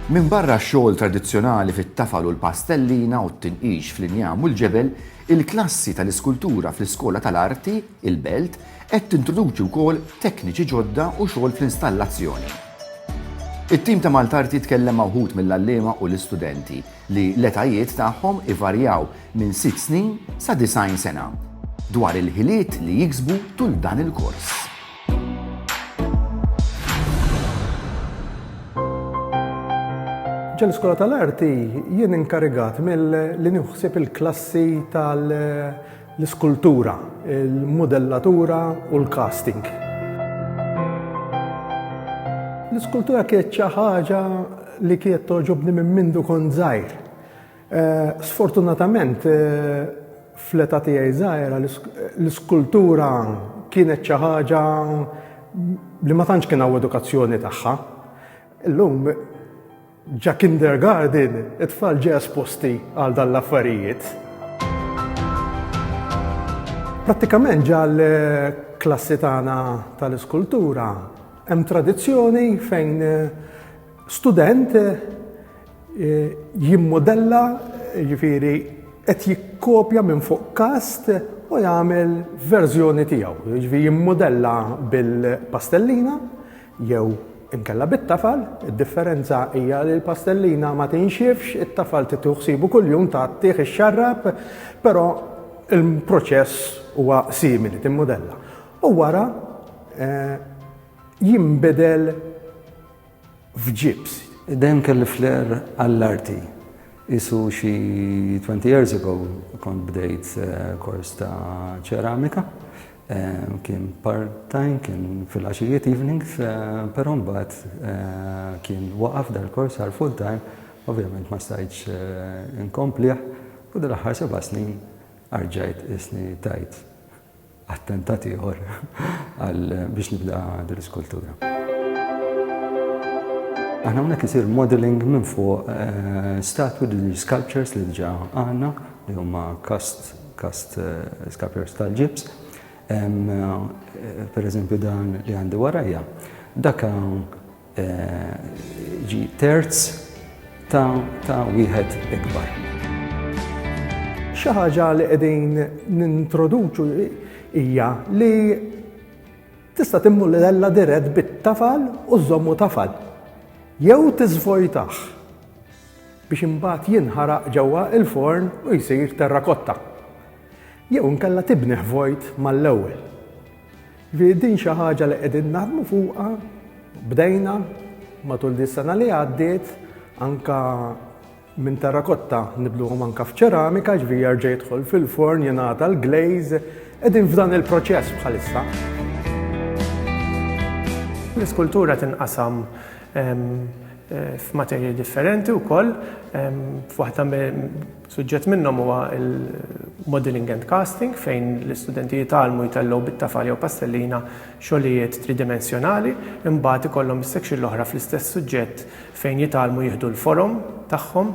Minbarra x-xogħol tradizzjonali fit-tafal u l-pastellina u t-tinqix fl-injam u l-ġebel, il-klassi tal-iskultura fl-Iskola tal-Arti, il-Belt, qed tintroduċi wkoll tekniċi ġodda u xogħol fl-installazzjoni. It-tim ta' Maltarti tkellem ma' wħud mill-għalliema u l-istudenti li l-etajiet tagħhom ivarjaw minn sitt snin sa 90 sena, dwar il-ħiliet li jiksbu tul dan il-kors. Ġol-Iskola tal-Arti jien inkarigat milli nieħu ħsieb il-klassi tal- l-iskultura, il-mudellatura u l-casting. L-iskultura kienet xi ħaġa li kienet toġobni minn mindu kont żgħir. Eh, sfortunatament, eh, fl-età tiegħi żgħira l-iskultura kienet xi ħaġa li ma tantx kien hawn edukazzjoni tagħha. Illum Ġa kindergarten, it-tfal ġa esposti għal dan l-affarijiet. Prattikament ġa l-klassi tagħna tal-iskultura hemm tradizzjoni fejn student eh, jimmodella ġifiri qed jikkopja minn fuq kast u jagħmel verżjoni tiegħu. Ġifi jimmodella bil-pastellina, Jew inkella bit-tafal, id-differenza hija li l-pastellina ma tinxifx, it-tafal titieħu ħsibu kuljum ta' tieħ ix-xarrab, però il-proċess huwa simili timmudella. U wara eh, jinbidel f'ġibs. Dejjem kelli flair għall-arti. Isu xi 20 years ago kont bdejt eh, kors ta' ċeramika Kien part-time, kien fil-għaxijiet evenings, però mbagħad kien waqaf dal-kors għal full-time, ovvjament ma stajtx inkomplih u dal-aħħar seba' snin arġajt qisni tajt attentat ieħor għal biex nibda dil-iskultura. Aħna hawnhekk isir modeling minn fuq statwi, sculptures li diġà għandna li huma cast Kast Scapiers tal-Ġibs. Per eżempju dan li għandi warajja, daka ġi terz ta' wieħed ikbar. Xi ħaġa li qegħdin nintroduċu hija li tista' timmulella dirett bit-tafal u żommu tafal jew tiżvojtah. biex imbagħad jinħaraq ġewwa l-forn u jsir terrakotta. Jew inkella tibnih vojt mal-ewwel. Jiġifieri din xi ħaġa li qegħdin naħdmu fuqha, bdejna matul dis-sena li għaddiet anka minn terrakotta nibluhom anka f'ċeramika ġvi jerġa' jidħol fil-forn jingħata l-glaze qegħdin f'dan il-proċess bħalissa. L-iskultura tinqasam f'materji differenti wkoll, f'waħda suġġett minnhom huwa l-modelling and casting fejn l-istudenti jitgħallmu jtellgħu bit-tafal jew pastellina xogħlijiet tridimensjonali, imbagħad ikollhom is-section l-oħra fl-istess suġġett fejn jitgħallmu jieħdu l-forom tagħhom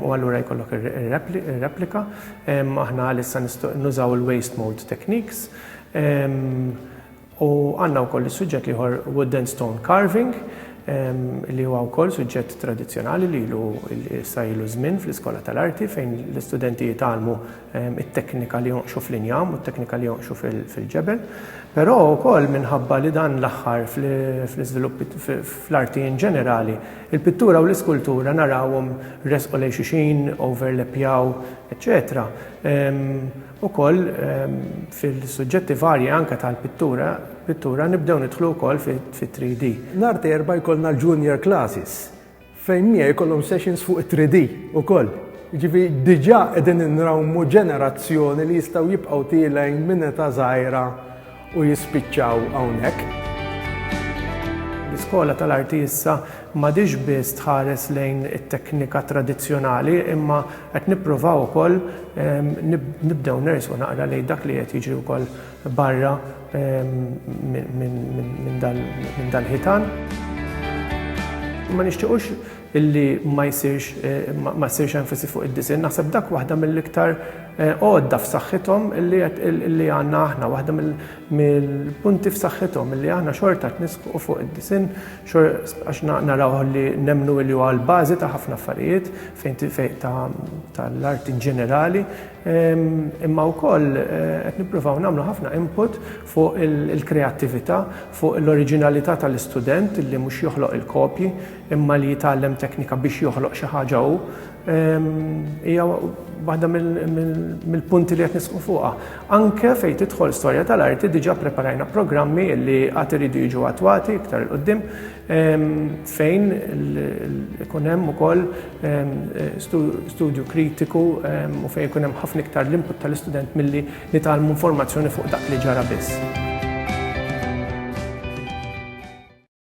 u allura jkollok ir-replika. Aħna għalissa nużaw il-waste mold techniques U għandna wkoll is-suġġett l-ieħor wooden stone carving li huwa wkoll suġġett tradizzjonali li ilu issa ilu żmien fl-Iskola tal-Arti fejn l-istudenti jitgħallmu ehm, it-teknika li jonqxu fl-injam u t-teknika li jonqxu fil-ġebel. Però wkoll minħabba li dan l-aħħar fl-iżvilupp fl-arti in ġenerali, il-pittura u l-iskultura narawhom resqu lejn xuxin, overlappjaw, eċċetera ehm, Ukoll fil-suġġetti varji anke tal-pittura, pittura nibdew nidħlu wkoll fit-3D. Nhar t'Erbgħa jkollna l-Junior Classes fejn miegħi jkollhom sessions fuq it-3D ukoll. Jiġifieri diġà qegħdin inrawmu ġenerazzjoni li jistgħu jibqgħu tielgħin minn età żgħira u jispiċċaw hawnhekk. L-Iskola tal-Arti issa m'għadhiex biss tħares lejn it-teknika tradizzjonali imma qed nippruvaw ukoll nibdew nersqu naqra lejn dak li qed jiġri wkoll barra minn dal-ħitan. Ma nixtiequx illi ma jsirx ma ssirx enfasi fuq id-disinn, naħseb dak waħda mill-iktar għodda f'saħħithom illi illi għandna aħna, waħda mill-punti f'saħħithom illi aħna xorta qed nisħqu fuq id-disinn għax naraw li nemmnu illi huwa l-bażi ta' ħafna affarijiet fejn tal-art in ġenerali, imma wkoll qed nippruvaw nagħmlu ħafna input fuq il-kreattività, fuq l-oriġinalità tal-istudent illi mhux joħloq il-kopji, imma li jitgħallem teknika biex joħloq xi ħaġa hu, hija waħda mill-punti li qed nisqu fuqha. Anke fejn tidħol storja tal-arti diġà preparajna programmi li għad iridu jiġu attwati iktar il qudiem fejn ikun hemm ukoll studju kritiku u fejn ikun hemm ħafna iktar l-input tal-istudent milli nitgħallmu informazzjoni fuq dak li ġara biss.